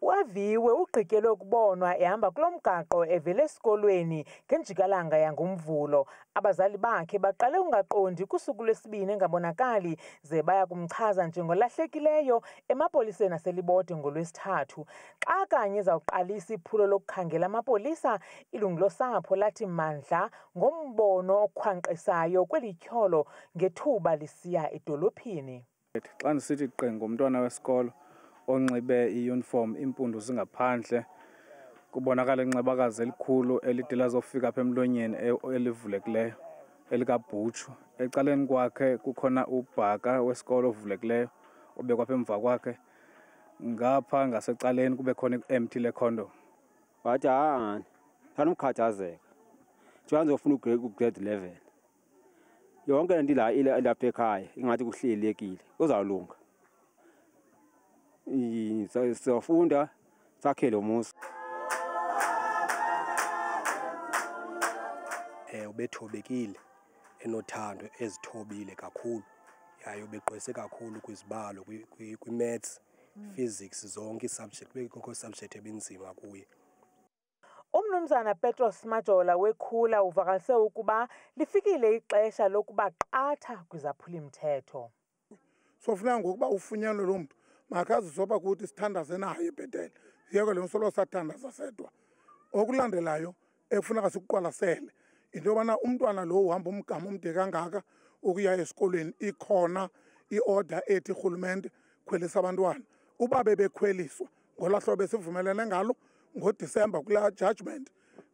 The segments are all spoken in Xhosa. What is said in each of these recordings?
UAviwe ugqityelwe ukubonwa ehamba kulo mgaqo evele esikolweni ngenjikalanga yangoMvulo. Abazali bakhe baqale ungaqondi kusuku lwesibini engabonakali ze baya kumchaza njengolahlekileyo emapoliseni aseLibode ngoLwesithathu. Xa kanye zawuqalisa iphulo lokukhangela amapolisa, ilungu losapho lathi mandla ngombono okhwankqisayo kweli tyholo ngethuba lisiya edolophini. Xa ndisithi qe ngomntwana wesikolo onxibe iyunifomu iimpundu zingaphandle kubonakala incebakazi elikhulu elide lazofika apha emlonyeni e-, elivulekileyo elikabhutshu ecaleni kwakhe kukhona ubhaka wesikolo ovulekileyo obekwa apha emva kwakhe ngapha ngasecaleni kube khona i-empty lekhondom wathi haani thanomkhathazeka njengoba ndizofuna ugrade eleven yonke le nto ila- ila- ilapha ekhaya ingathi kuhlelekile uzawulunga Yi- sa- sizofunda sakhe lo muzi eh ubethobekile enothando ezithobile kakhulu yaye ubegqwese kakhulu kwizibalo kwi- kwi- kwi-maths physics zonke ii-subject bekukho subject ebinzima kuye UMnumzana Petros Majola weKhula uvakalise ukuba lifikile ixesha lokuba qatha kwizaphuli-mthetho. Sofuneka ngokuba ufunyanwe loo mntu makazizoba kuthi sithandaze naye ebhetele yeke le nsolo sathandaza sedwa okulandelayo ekufuneka sikuqwalasele into yobana umntwana lo uhamba umgama omde kangaka ukuya esikolweni ikhona i-order ethi rhulumente khwelisa abantwana uba bebekhweliswa ngolaa hlobo esivumelene ngalo ngodisemba kulaa judgment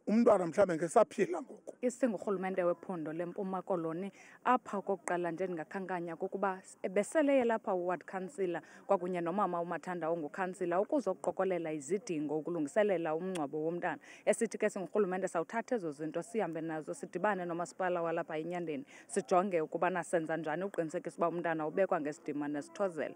umntwana mhlawumbe ngesaphila ngoku isingurhulumente wephondo lempuma koloni apha okokuqala nje ndingakhankanya kokuba ebeseleye lapha uward councillor kwakunye nomama umathanda ongukhansila ukuzoqokolela izidingo ukulungiselela umngcwabo womntana esithi ke singurhulumente sawuthatha ezo zinto sihambe nazo sidibane nomasipala walapha enyandeni sijonge ukubana senza njani ukuqinisekisa uba umntana ubekwa ngesidima nesithozela